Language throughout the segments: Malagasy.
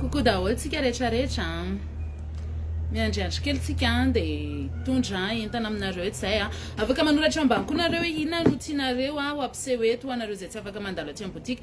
Coucou daholo tsika rehetra rehetra miandriandry kely tsika dia tondra entana aminareo eto izay a afaka manoratra ambany koa nareo hoe inona no tianareo a ho ampiseho eto ho anareo izay tsy afaka mandalo aty amin'ny boutique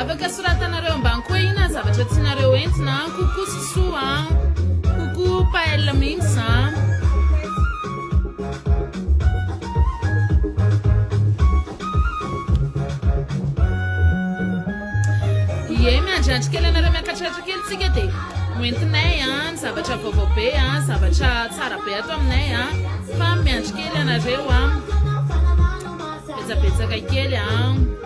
Afaka soratanareo ambany koa ina ny zavatra tianareo entina an. Coucou Sousou an. Coucou Paella Mings an. Ie miandriandry kely anareo miakatratra kely tsika de ho entinay an ny zavatra vaovao be an, zavatra tsara be ato aminay an. Fa miandry kely anareo an. Betsabetsaka kely an.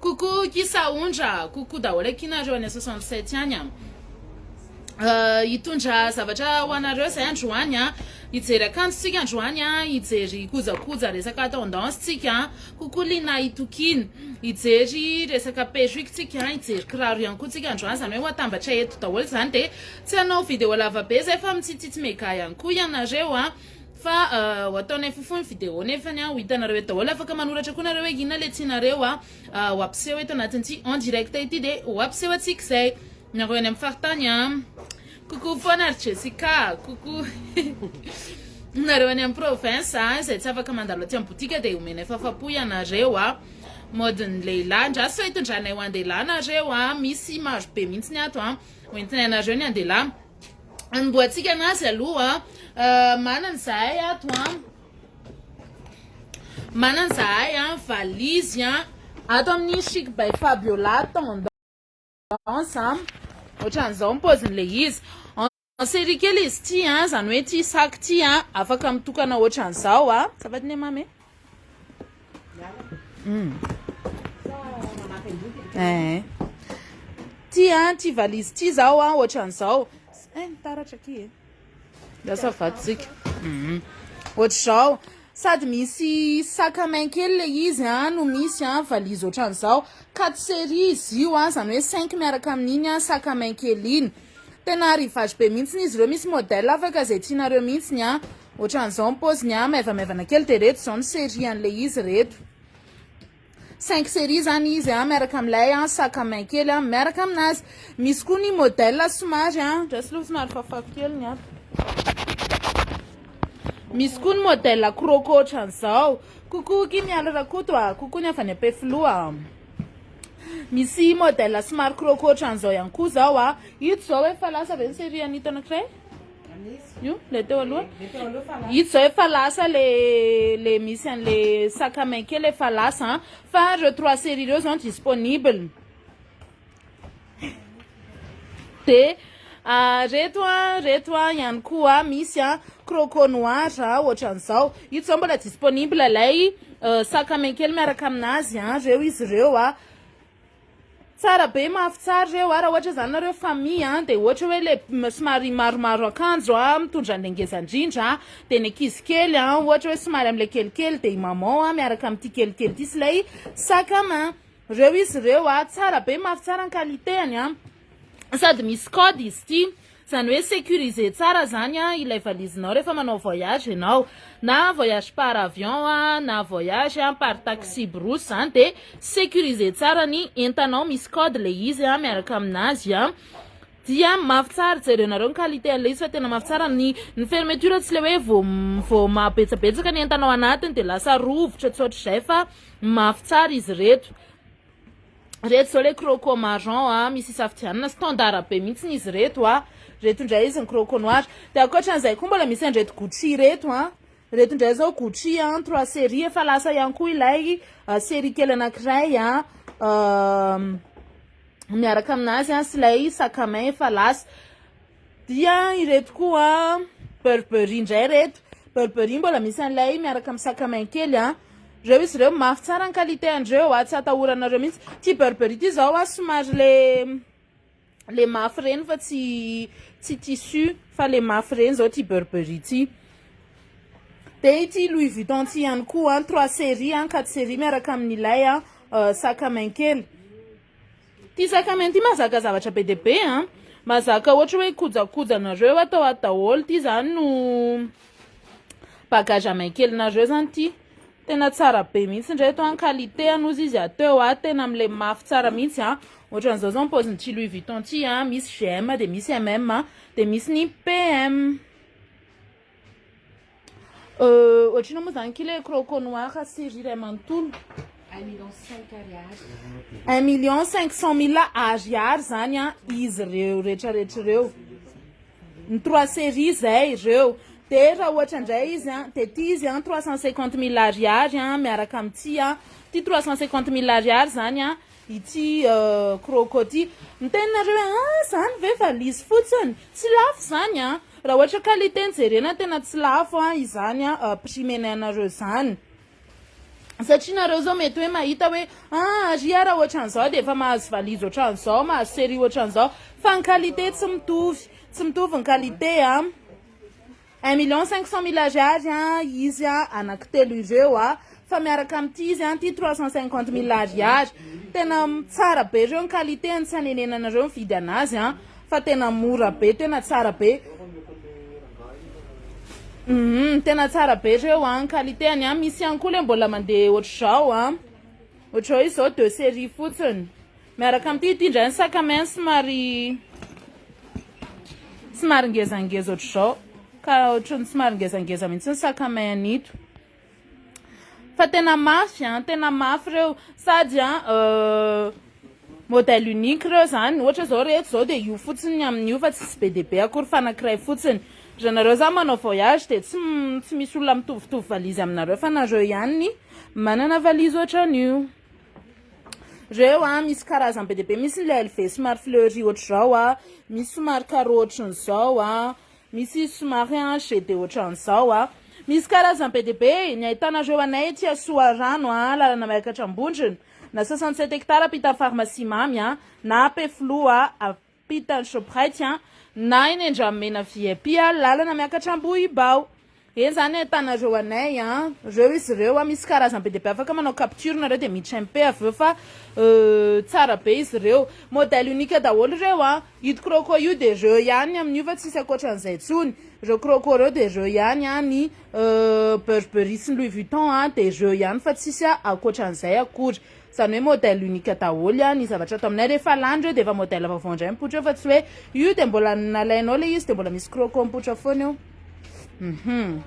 Coucou ki Saondra, coucou daholo aky nareo any soixante sept any an. Euh, hitondra zavatra ho anareo zay androany an. Hijery akanjo tsika androany an, hijery kojakoja resaka tendance tsika. Coucou Lina Itokina. Hijery resaka perruque tsika, hijery kiraro ihany koa tsika androany zany hoe ho atambatra eto daholo zany de tsy hanao vidéo lava be zay fa mitsitsitsy mega ihany koa ianareo an. Fa ho ataonay fofo ny video nefany ho hitanareo eto daholo. Afaka manoratra koa nareo hoe inona le tianareo ho ampiseho eto anatin'ity en direct ity de ho ampiseho antsika izay. Nareo any amin'ny faritany a. Coucou foana ry Jessica. Coucou. Nareo any amin'ny province a izay tsy afaka mandalo aty amin'ny boutique de omenay fafapo ianareo a. Mode ny lehilahy ndra sao hitondranay ho andehilahy nareo a. Misy maro be mihitsy ny ato a. Ho entinay anareo ny andehilahy. Anombohantsika anazy aloha. Manana izahay ato an. Manana izahay an, valizy an. Ato amin'ny Chic by Fabiola tendance an. Ohatran'izao ny paozin'ilay izy. En série kely izy ity an, izany hoe ity sac ity an, afaka mitokana ohatran'izao an. Ça va Dinemamy? Ty an, ty valise ty zao an, ohatran'izao. Eh, mitaratra aky e. Lasa vatsika. Mhm. Ohatr'izao. Sady misy sac à main kely le izy an, no misy an, valise ohatran'izao. Quatre séries izy io an, zany hoe cinq miaraka amin'iny an, sac à main kely iny. Tena arrivage be mihitsy izy ireo, misy modèle afaka izay tianareo mihitsy ny an. Ohatran'izao ny paoziny a, maivamaivana kely dia reto izao ny série an'ilay izy reto. Cinq série zany izy a, miaraka amin'ilay a sac à main kely a, miaraka aminazy. Misy koa ny modèle somary a, ndraso aloha somary fafako kely ny ato. Misy koa ny modèle croco ohatran'izao. Coucou Kim Mialy Rakoto a, coucou ny avy any Ampefiloha. Misy modèle somary croco ohatran'izao ihany koa zao a. Ito zao efa lasa ve ny série an'ito anankiray? Io le teo aloha. Ito zao efa lasa le le misy an'le sac à main kely efa lasa an. Fa ireo trois séries ireo zao disponible. De ah, reto an, reto an ihany koa misy an croco noir ohatran'izao. Ito zao mbola disponible ilay euh, sac à main kely miaraka aminazy an, reo izy reo an. Tsara be mafy tsara reo a, raha ohatra izany nareo famille a dia ohatra hoe le somary maromaro akanjo a mitondra anle ngeza indrindra a dia ny ankizy kely a ohatra hoe somary amle kelikely dia i maman a miaraka amin'ity kelikely ity sy ilay sac à main reo izy reo a, tsara be mafy tsara ny qualité-ny a. sady misy code izy ity zany hoe sécurisé tsara zany ilay valizinao rehefa manao voyage ianao na voyage par avion na voyage par taxi brousse zany dia sécurisé tsara ny entanao misy code le izy miaraka aminazy dia mafy tsara jerenareo ny qualité an'ilay izy fa tena mafy tsara ny ny fermeture tsy le hoe vao vao mahabetsabetsaka ny entanao anatiny dia lasa rovitra tsy ohatr'izay fa mafy tsara izy reto Reto zao le croco marron a, misy isafidianana, standard be mihitsiny izy reto a. Reto indray izy ny croco noir. De ankoatran'izay koa mbola misy an'ireto Gucci reto a. Reto indray zao Gucci a, trois serie, efa lasa ihany koa ilay serie kely anankiray a, miaraka aminazy a, sy ilay sac à main efa lasa. Dia ireto koa Burberry indray ireto. Burberry mbola misy an'ilay miaraka amin'ny sac à main kely an. Ireo izy ireo mafy tsara ny qualité an'ireo an, tsy atahoranareo mihitsy. Ity Burberry ity izao an, somary le le mafy ireny fa tsy tsy tissu fa le mafy ireny izao ity Burberry ity. Dia ity Louis Vuitton ity ihany koa an, trois séries an, quatre séries miaraka amin'ilay an, sac à main kely. Ty sakamian ty mazaka zavatra be dia be an! Mazaka ohatra hoe kojakojanareo atao ato daholo ty zany no bagage à main kelinareo zany ty! Tena tsara be mihitsy ndray eto an! Qualité anie ozy izy ato eo an! Tena milemy mafy tsara mihitsy an! Ohatran'izao zao ny paozin'ity Louis Vuitton ty an! Misy GM dia misy MM dia misy ny PM. Euh, ohatrino moa zany kile croco noir série iray manontolo. Un million cinq ariary. Un million cinq cent mille ariary zany an izy ireo rehetrarehetra ireo. Ny trois série zay ireo. Dia raha ohatra indray izy an, dia ty izy an trois cent cinquante mille ariary an miaraka amin'ity an. Ty trois cent cinquante mille ariary zany an Ity croco ty. Miteny nareo hoe ah zany ve valise fotsiny? Tsy lafo zany an! Raha ohatra qualité no jerena tena tsy lafo an izany an prix menainareo zany. Satria nareo zao mety hoe mahita hoe ah ary ah raha ohatran'izao dia efa mahazo valise ohatran'izao, mahazo serie ohatran'izao. Fa ny qualité tsy mitovy. Tsy mitovy ny qualité an. Un million cinq cent mille Ariary an izy an anaky telo ireo an fa miaraka amity izy an ty trois cent cinquante mille Ariary tena tsara be reo ny qualité ny tsy hanenenanareo mividy anazy an fa tena mora be tena tsara be humm tena tsara be reo an ny qualité ny an misy ihany koa le mbola mandeha otrzao an otrzao izao deux serie fotsiny. Miaraka amin'ity, ity indray ny sac à main somary somary ngezangeza ohatr'izao ka ohatran'ny somary ngezangeza mihitsy ny sac à main an'ito fa tena mafy an tena mafy ireo sady an euh, modèle unique ireo zany ohatra zao rehetra zao dia io fotsiny ny amin'io fa tsy be dia be akory fanakiray fotsiny raha nareo zany manao voyage dia tsy tsy misy olona mitovitovy valizy aminareo fa nareo ihany ny manana valizy ohatran'io Reo a, misy karazany be dia be, misy ilay lv somary fleury ohatr'izao a, misy somary carreau ohatran'izao a, misy somary hanche dia ohatran'izao a. Misy karazany be dia be, ny ahitanareo anay ety Soarano a, lalana miakatra Ambondrona, na 67 hectares ampitan'ny pharmacie mamy a, na Ampefiloha a. Mpitan'ny Shoprite an! Na eny Andramena vip a! Lalana miakatra Ambohibao! Eny zany ahitanareo anay an! Reo izy reo a! Misy karazany be dia be afaka manao capture nareo dia miditra MP avy eo fa tsara be izy reo! Modèle unique daholo reo an! Ito croco io dia reo ihany amin'io fa tsisy akoatran'izay tsony! Reo croco reo dia reo ihany an! Ny Burberry sy ny Louis Vuitton an dia reo ihany fa tsisy akoatran'izay akory! Zany hoe modèle unique daholo an ny zavatra ato aminay, rehefa lany reo de efa modèle vaovao indray mipoitra eo fa tsy hoe io de mbola nalainao le izy de mbola misy croco mipoitra foana eo hum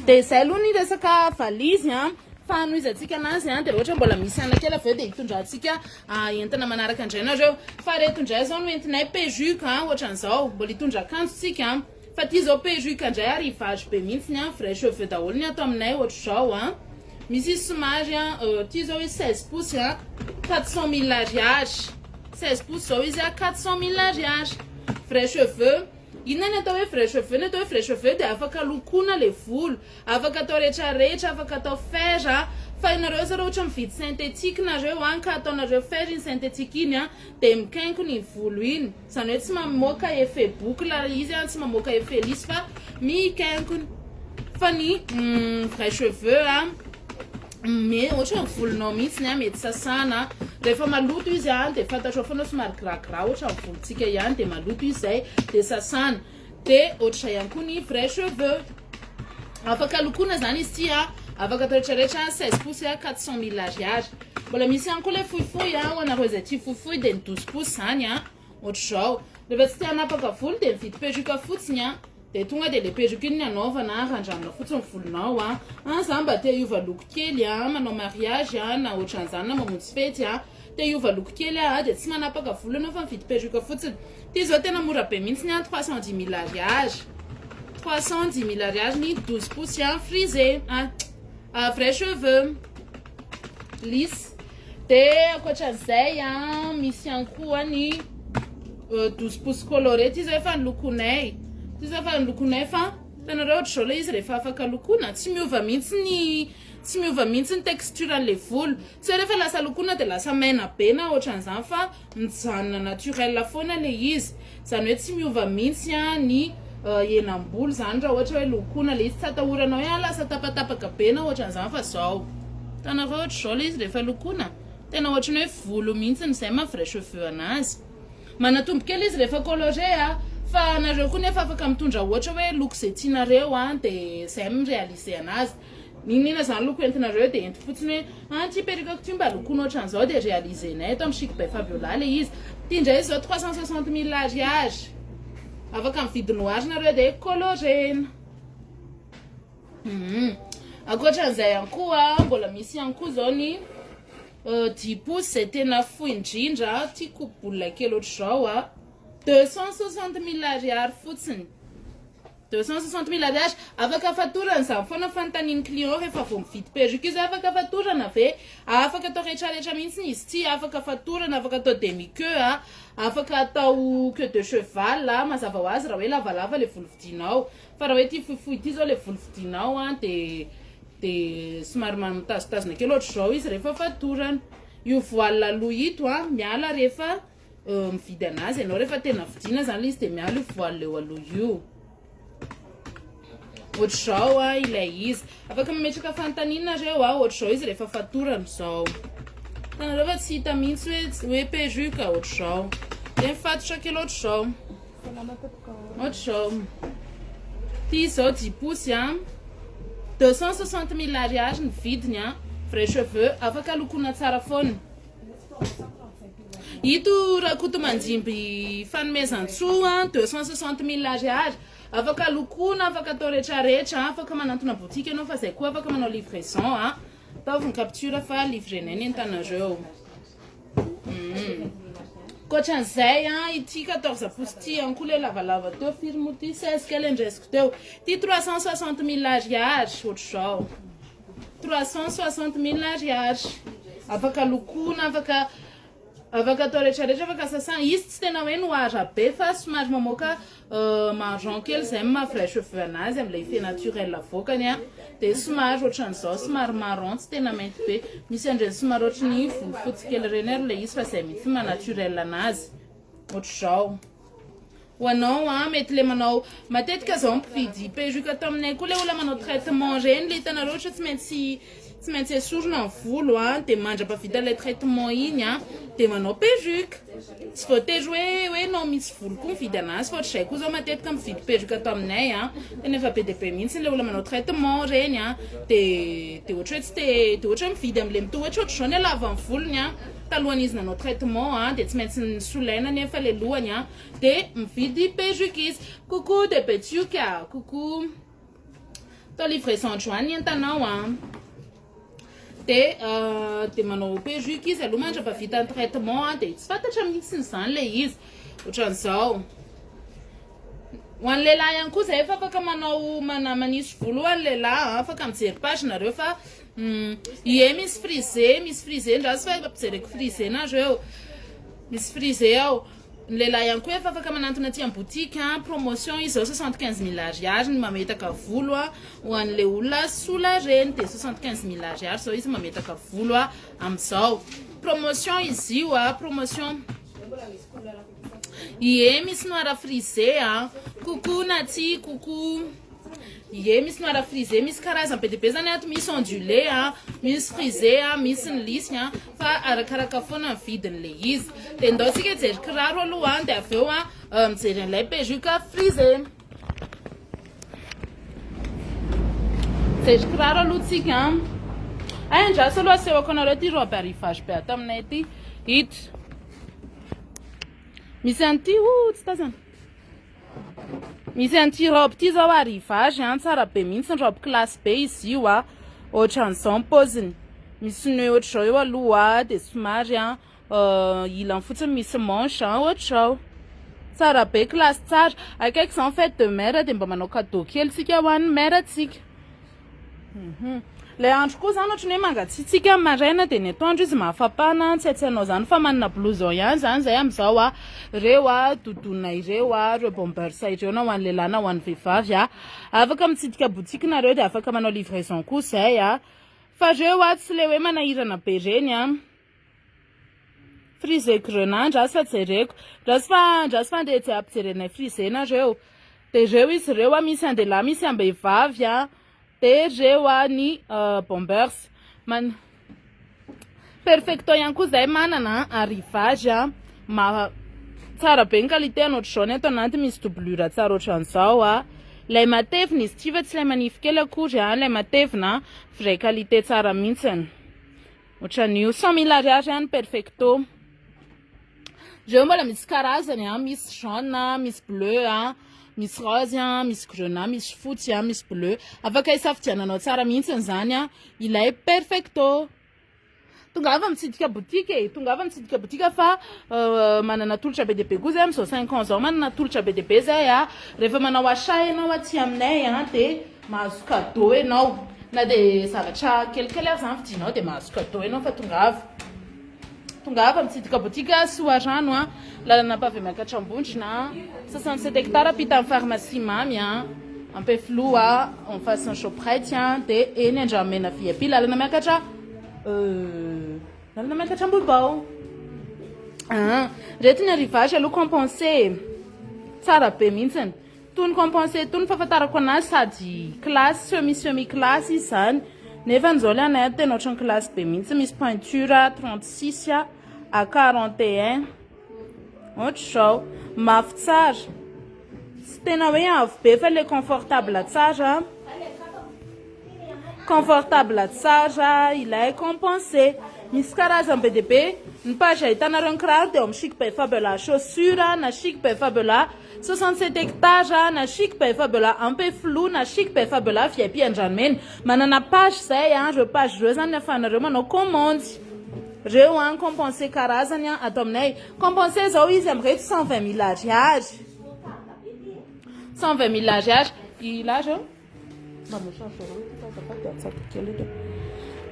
de zay aloha ny resaka valise an fa hanohizantsika anazy an de raha ohatra mbola misy anakely avy eo de hitondrantsika entana manaraka indray nareo fa reto indray zao no entinay pejuque an ohatran'izao mbola hitondra akanjo tsika an Fa ty zao perruque ndray ary vazo be mintsiny an, vrai cheveux daholo ny ato aminay otrzao an, misy izy somary an, ty zao izy seize pouces an, quatre cent mille ariary, seize pouces zao izy an, quatre cent mille ariary, vrai cheveux, inona ny atao hoe vrai cheveux, ny atao hoe vrai cheveux dia afaka lokoina le volo, afaka atao rehetra rehetra, afaka atao fer an, fa ianareo asa raha ohatra mividy synthétique nareo an ka ataonareo fer iny synthétique iny an dia mikenko ny volo iny, Zany hoe tsy mamoaka effet boucle ry izy a, tsy mamoaka effet lisy fa mikenkona. Fa ny vrai cheveux a, me- ohatra hoe volonao mihitsiny a, mety sasana, rehefa maloto izy a de fantatrao foana hoe somary gras gras ohatra ny volontsika ihany de maloto izy zay de sasana, De ohatr'izay ihany koa ny vrai cheveux. Afaka lokoina zany izy ty a. Afaka atao rehetra rehetra 16 pouces 400 mille ariary. Mbola misy ihany koa le fohifohy a, ho anareo izay tia fohifohy de ny 12 pouces zany a. Ohatr'izao. Rehefa tsy te hanapaka volo de mividy perruque fotsiny a. De tonga de le perruque iny ny anaovana, randramina fotsiny ny volonao a. An za mba te hiova loko kely a, manao mariage a na ohatr'an'zany na mamonjy fety a. Te hiova loko kely aho dia tsy manapaka volo anao fa mividy perruque fotsiny. Ity izao tena mora be mihitsy an, trois cent dix mille ariary. Trois cent dix mille ariary ny douze pouces an, frisé an, ah, vrai cheveux, lisse. Dia ankoatran'izay an, misy ihany koa ny euh, douze pouces coloré. Ity izao efa ny lokonay. Ity izao efa ny lokonay fa hitanareo ohatr'izao ilay izy rehefa afaka lokoina, tsy miova mihitsy ny tsy miova mihitsy ny texture an'ilay volo. Sao refa lasa lokona de lasa maina be na otran'zany fa mijanona naturel foana le izy zany oe tsy miova mintsy a ny henam-bolo zany ra ohatra oe lokona le izy tsy atahoranao oe a lasa tapatapaka be na otran'zany fa zao hitanareo otrzao le izy refa lokona tena otrany oe volo mintsy ny zay ma vrai cheveux anazy manatombo kely izy refa colore a fa nareo koa nefa afaka mitondra ohatra oe loko ze tianareo a de zay mi realiser anazy N'inon'inona izany loko entinareo dia ento fotsiny hoe ah ity perruque-ko ity mba lokoina ohatran'izao dia realiser-nay eto amin'ny Chic by Fabiola ilay izy. Ity indray izao trois cent soixante mille ariary. Afaka mividy noir nareo dia colorena. Hum. Ankoatran'izay ihany koa mbola misy ihany koa izao ny euh, dix pouces izay tena fohy indrindra tia coupe boule kely ohatr'izao a. Deux cent soixante mille ariary fotsiny. Deux cent soixante mille ariary, afaka fatorana izany foana ny fanontanian'ny client rehefa vao mividy perruque izy, afaka fatorana ve? ah, afaka atao rehetrarehetra mihitsiny izy ity, afaka fatorana, afaka atao demi queue ah, afaka atao queue de cheval ah, mazava ho azy raha hoe lavalava ilay volo vidinao, fa raha hoe ity fohifohy ity izao ilay volo vidinao ah, dia dia somary ma mitazotazona kely ohatr'izao izy rehefa fatorana, io voile aloha ito ah, miala rehefa. mividy anazy ianao rehefa tena vidiana zany izy dia miala io voile eo aloha io ohatr'izao a ilay izy afaka mametraka fanontaniana reo a ohatr'izao izy rehefa fatorana izao tanareo fa tsy hita mihitsy hoe hoe perruque ohatr'izao de mifatotra kely ohatr'izao ohatr'izao ty izao jiposy a deux cent soixante mille ariary ny vidiny a vrai cheveux afaka lokoana tsara foana Ito Rakotomanjimby fanomezantsoa deux cent soixante mille ariary, afaka lokoina, afaka atao rehetra rehetra, afaka manantona boutique ianao fa zay koa afaka manao livraison a, ataovy ny capture fa livrenay ny entanareo. Mm. Koatran'izay a, ity quatorze pouces ity ihany koa le lavalava teo, firy moa ity seize kely andresiko teo, ity trois cent soixante mille ariary, ohatr'izao. Trois cent soixante mille ariary afaka lokoina afaka afaka atao rehetra rehetra afaka sasana izy tsy tena hoe noir be fa somary mamoaka euh, marron kely zay maha vrai cheveux anazy amle effet naturel avoakany a de somary ohatran'izao somary marron tsy tena mainty be misy andreny somary ohatry ny volofotsy kely reny ary le izy fa zay mihitsy maha naturel anazy ohatr'izao Ho anao an, mety le manao matetika zao ny mpividy perruque ato aminay koa le olona manao traitement reny le hitanareo ohatra tsy maintsy tsy maintsy esorina ny volo an de mandrapavita ilay traitement iny an de manao perruque tsy voatery hoe hoe enao mitsy volo koa mividy anazy fa ohatr'izay koa zao matetika mividy perruque ato aminay an tena efa be de be mihitsy le olona manao traitement reny an de de ohatra hoe tsy te de ohatra hoe mividy amle mitohy ohatra ohatr'izao ny halavany volony an talohan'izy nanao traitement an de tsy maintsy solaina nefa le lohany an Dia mividy perruque izy. Coucou de Betioka, coucou. Atao livraison andro any ny entanao a. Ah. Dia euh, dia manao perruque izy aloha mandrapa vita ny traitement a ah, dia tsy fantatra mihitsy izany le izy. Ohatran'izao. Ho an'ny lehilahy ihany koa zay efa afaka manao mana manisy volo ho an'ny lehilahy ah, afaka mijery page nareo fa hmm, ie misy frisé, misy frisé ndrazy fa efa mpijereko frisé nareo. Misy frisé ao. Ny lehilahy ihany koa efa afaka manantona aty am boutique promotion izy zao soixante quinze mille ariary ny mametaka volo a ho anle olona sola reny de soixante quinze mille ariary zao izy mametaka volo a amizao promotion izy io a promotion ie misy noir frisé a coucou naty coucou ie misy noir frisé misy karazany be de be zany ato misy ondulé a misy frisé a misy ny lisy a Fa arakaraka foana ny vidiny le izy. De ndao tsika hijery kiraro aloha an, de avy eo an mijery an'ilay perruque frisé. Mijery kiraro aloha tsika an. Hay andraso aloha asehoko anareo ty robe arrivage be ato aminay ty. Ito. Misy an'ity, oh tsy tazana. Misy an'ity robe ity zao ary hivary an, tsara be mihitsy ny robe classe be izy io a, ohatran'izao ny paoziny, misy ny hoe ohatr'izao eo aloha dia somary an euh, ilany fotsiny misy manche an, ohatr'izao, tsara be, classe tsara, akaiky izao ny fête de mère dia mba manao cadeau kely tsika ho an'ny mère tsika. Ilay andro koa izany ohatran'ny hoe mangatsiatsiaka amin'ny maraina dia ny atoandro izy mafampana an, tsy haitsy hanao izany fa manana blouson ihany izany izay amin'izao an, ireo an doudoune ireo an, ireo bombers ireo na ho an'ny lehilahy na ho an'ny vehivavy an, afaka mitsidika boutique nareo dia afaka manao livraison koa izay an, fa ireo an tsy ilay hoe manahirana be ireny an. Frise grenat andraso fa jereko. Andraso fa andraso fa andeha tsy ampijery anay frise nareo. Dia ireo izy ireo misy an-dehilahy misy am-behivavy an. Dia ireo ny bombers. Man- Perfecto ihany koa izahay manana an, arrivage an. Maha- Tsara be ny qualité ny ohatr'izao ny ato anatiny misy doublure tsara ohatran'izao an. Ilay matevina izy ity fa tsy ilay manify kely akory an, ilay matevina an. Vraie qualité tsara mihitsy. Otran'io cent mille ariary any perfecto. Reo mbola misy karazany a, misy jaune a, misy bleu a, misy rose a, misy grenat, misy fotsy a, misy bleu. Afaka isafidiananao tsara mihitsy izany a, ilay perfecto. Tongava mitsidika boutique e, tongava mitsidika boutique fa euh, manana tolotra be dia be koa zay amin'izao cinq ans zao manana tolotra be dia be zay a. Rehefa manao achat ianao aty aminay a dia Mahazo cadeau enao na de zavatra kelikely ary zany vidinao de mahazo cadeau enao fa tongava tongava mitsidika botika soarano a lalana ampavy amy akatrambondrona sasany sept hectare ampita ny pharmacie mamy a ampefiloha en face ny shoprite a de eny andramena vip lalana miakatra euh, lalana miakatra ambohibao ah, reto ny arrivage aloha compense tsara be mihitsiny Tony compenser tony fahafantarako anazy sady classe semi semi classe izy zany nefa ny zao le anay any tena ohatran'ny classe be mihitsy misy peinture 36 a à 41 ohatr'izao mafy tsara tsy tena hoe avo be fa le confortable tsara confortable tsara ilay compenser misy karazany be dia be ny page ahitanareo ny kiraro dia ao amin'ny chic befabela chaussure na chic befabela Soixante sept hectares na chic bay fabiola ampefiloha na chic bay fabiola vip andranomena manana page zay an reo page reo zany afahanareo manao commande reo an compense karazany an ato aminay compense zao izy amreto cent vingt mille ariary cent vingt mille ariary ila reo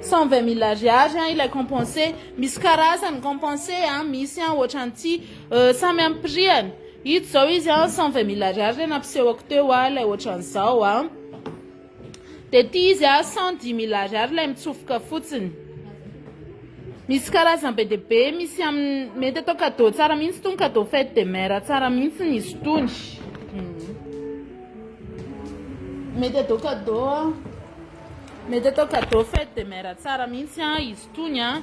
Cent vingt mille ariary an ilay compense misy karazany compense an misy an ohatran'ity euh, samy amin'ny prix-any ito zao izy an cent vingt mille ariary ilay nampisehoko teo an ilay ohatran'izao an de ity izy an cent dix mille ariary ilay mitsofoka fotsiny misy karazany be dia be misy amin'ny mety atao cadeau tsara mihitsy itony cadeau fête de mère tsara mihitsy ny izy itony Mety atao cadeau a. Mety atao cadeau fête de mère tsara mihitsy a izy tony a.